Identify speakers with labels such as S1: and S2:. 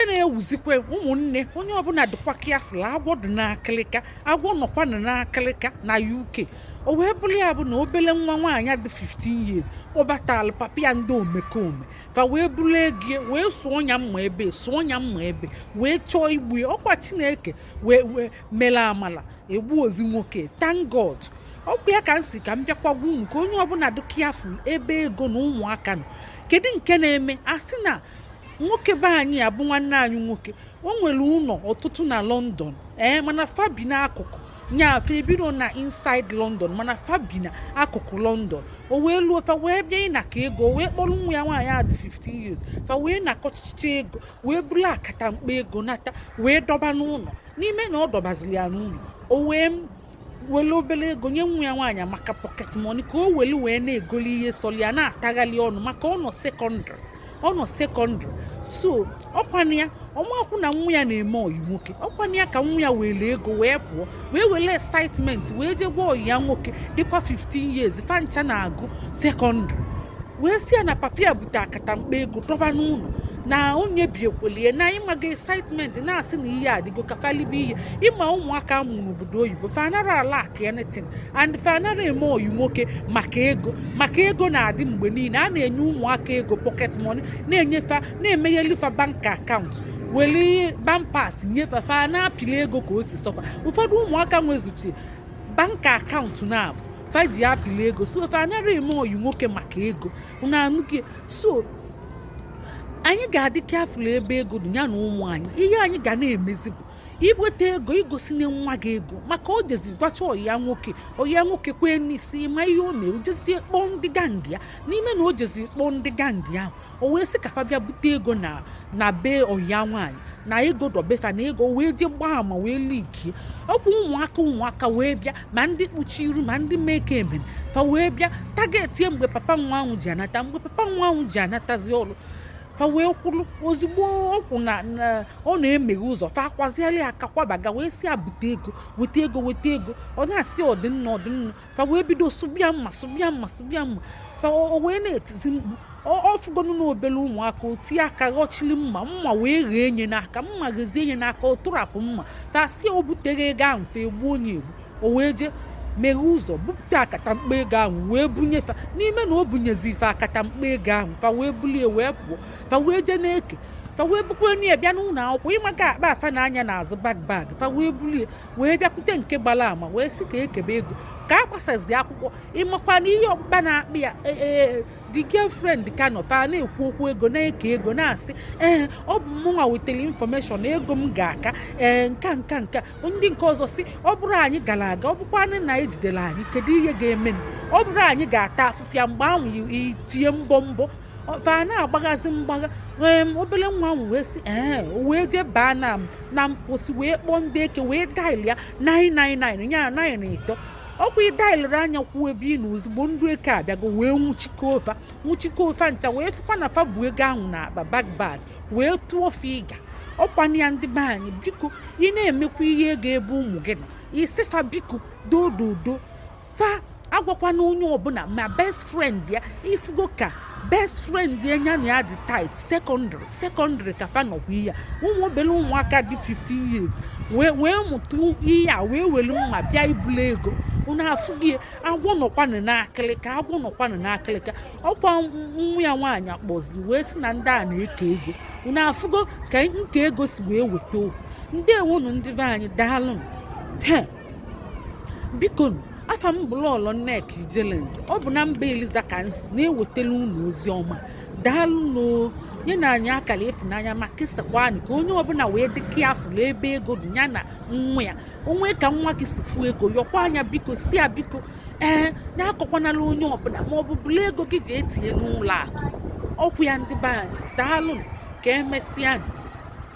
S1: e na-ewuzikwa ụmụnne onye ọbụla dịkwa careful agwọ dị n'akịlịka agwọ nọkwa n'akịlịka na UK o wee bụrụ ya bụ na obele nwa nwaanyị dị 15 years kpọbatara papa ya ndị omekome fa wee buru ego wee sụọ ya mma ebe sụọ ya mma ebe wee chọọ igbu ya ọkwa chineke wee wee mere amala egburozi nwoke thank God ọkwa ya ka m sị ka m bịakwa gwa unu ka onye ọbụla dị careful ebe ego na ụmụaka nọ kedu nke na-eme a sị na nwoke be anyị a bụ nwanne anyị nwoke o nwere ụlọ ọtụtụ na London ee eh, mana fa bi n'akụkụ nya fa ebiro na inside London mana fa bi n'akụkụ London o wee luo fa wee bịa ịnakọ ego wee kpọrọ nwa ya nwaanyị a dị 15 years fa wee nakọchicha ego wee buru akata mkpa ego nata wee dọba n'ụlọ n'ime na ọ dọbaziri ya n'ụlọ o wee were obere ego nye nwa ya nwaanyị maka pocket money ka o were wee na-egoli ihe sọli ya na-atagharị ọnụ maka ọ nọ secondary ọ nọ secondary so ọkwanụ ya ọ marọkwụ na nwa ya na-eme ọyị nwoke ọkwanụ ya ka nwa ya were ego wee pụọ wee were excitement wee jee gwa ọyị ya nwoke dịkwa 15 years fa ncha na-agụ secondary wee sị ya na papa ya bute akata mkpa ego dọba n'ụlọ na onye biekwelie na ị maga excitement na-asị na ihe adịgo ka fa libe ihe ị ma ụmụaka a mụrụ n'obodo oyibo fa anara alack anything and fa anara eme ọyị nwoke maka ego maka ego na-adị mgbe niile a na-enye ụmụaka ego pocket money na-enye fa na-emegheli fa bank account weli bank pass nye fa fa na-apịli ego ka o si sọ fa ụfọdụ ụmụaka nwezuchi bank account na-abụ fa ji apịla ego so fa anara eme ọyị nwoke maka ego unu anụghị ya. so anyị ga-adị careful ebe ego dị ya na ụmụ anyị ihe anyị ga na-emezi bụ i weta ego i gosina nwa gị ego maka o jezi gwacha ọyị ya nwoke ọyị ya nwoke kwee n'isi ị ma ihe o mere o jezie kpọọ ndị gang ya n'ime na o jezi kpọọ ndị gang ahụ o wee sị ka fa bịa bute ego na na be ọyị ya nwaanyị na ego dị be fa na ego wee jee gbaa ama wee leakie ọkwa ụmụaka ụmụaka wee bịa ma ndị kpuchi iru ma ndị mee ka e mere fa wee bịa targetie mgbe papa nwa ahụ ji anata mgbe papa nwa ahụ ji anatazi ọrụ fa wee kwụrụ ozugbo ọ kwụ na na ọ na-emeghe ụzọ fa akwaziela ya aka kwaba ya wee sị ya bute ego weta ego weta ego ọ na-asị ọdịnna ọdịnna fa wee bido sụba ya mma sụba ya mma sụba ya mma fa o wee na-etizi mkpu ọ fụgonu na obere ụmụaka o tie aka ghọchiri mma mma wee ghee nye n'aka mma ghezie nye n'aka ọ tụrapụ mma fa sị o butero ego ahụ fa egbuo nye egbu o wee jee meghe ụzọ bupụta akatamkpa ego ahụ wee bunye fa n'ime na o bunyezili fa akatamkpa ego ahụ fa wee bulie wee pụọ fa wee jee na-eke fa wee bukwanye ya bịa n'ụlọ akwụkwọ ị makwa akpa a fa na-anya n'azụ bag bag fa wee bulie wee bịakwute nke gbara ama wee sị ka e kebe ego ka a gbasazi akwụkwọ ị makwa na ihe ọkpụkpa na-akpị ya e, e, e, the girlfriend ka nọ fa na-ekwu okwu ego na-eke ego na-asị ee ọ bụ mụnwa wetara information ego m ga-aka ee nka nka nka ndị nke ọzọ sị ọ bụrọ anyị gara aga ọ bụkwanụ na e jidere anyị kedu ihe ga-eme ọ bụrọ anyị ga-ata afụfụ ya mgbe ahụ itinye mbọ mbọ fa na-agbaghazi mgbagha obere nwa ahụ wee sị ee o wee jee baa na na mposi wee kpọọ ndị eke wee dial ya 999 ya na 9 ịtọ ọkwa ị dialere nya kwuo ebe ị nọ ozugbo ndị eke abịago wee nwụchikọọ fa nwụchikọọ fa ncha wee fụkwa na fa bu ego ahụ n'akpa bag bag wee tụọ fa ịga ọkwanụ ya ndị be anyị biko ị na-emekwa ihe ego ebe ụmụ gị nọ ị sị fa biko dododo fa agwakwana onye ọbụla ma best friend ya ị fụgo ka best friend ya nya na ya dị tight secondary secondary ka fa nọkwa ya ụmụ obere ụmụaka dị 15 years wee wee mụta ihe a wee welu mma bịa ibulu ego unu afụghị agwọ nọkwanụ n'akịlịka agwọ nọkwanụ n'akịlịka ọkwa nwa ya nwaanyị akpọzi wee sị na ndị a na-eke ego unu afụgo ka nke ego si wee weta okwu ndeewonụ ndị be anyị daalụ biko afa m bụ lọlọ nneka ijelenze ọ bụ na mba eliza ka m si na-ewetara unu ozi ọma daalụnụ nyenụ anyị akara ịfụnanya ma kesakwanụ ka onye ọbụla wee dị careful ebe ego dị ya na nwa ya o nwee ka nwa gị si fụ ego yọkwa nya biko sị ya biko ee nya akọkwanala onye ọbụla ma ọ bụ bulu ego gị jee tinye n'ụlọ akụ ọkwa ya ndị be anyị daalụ ka emesịa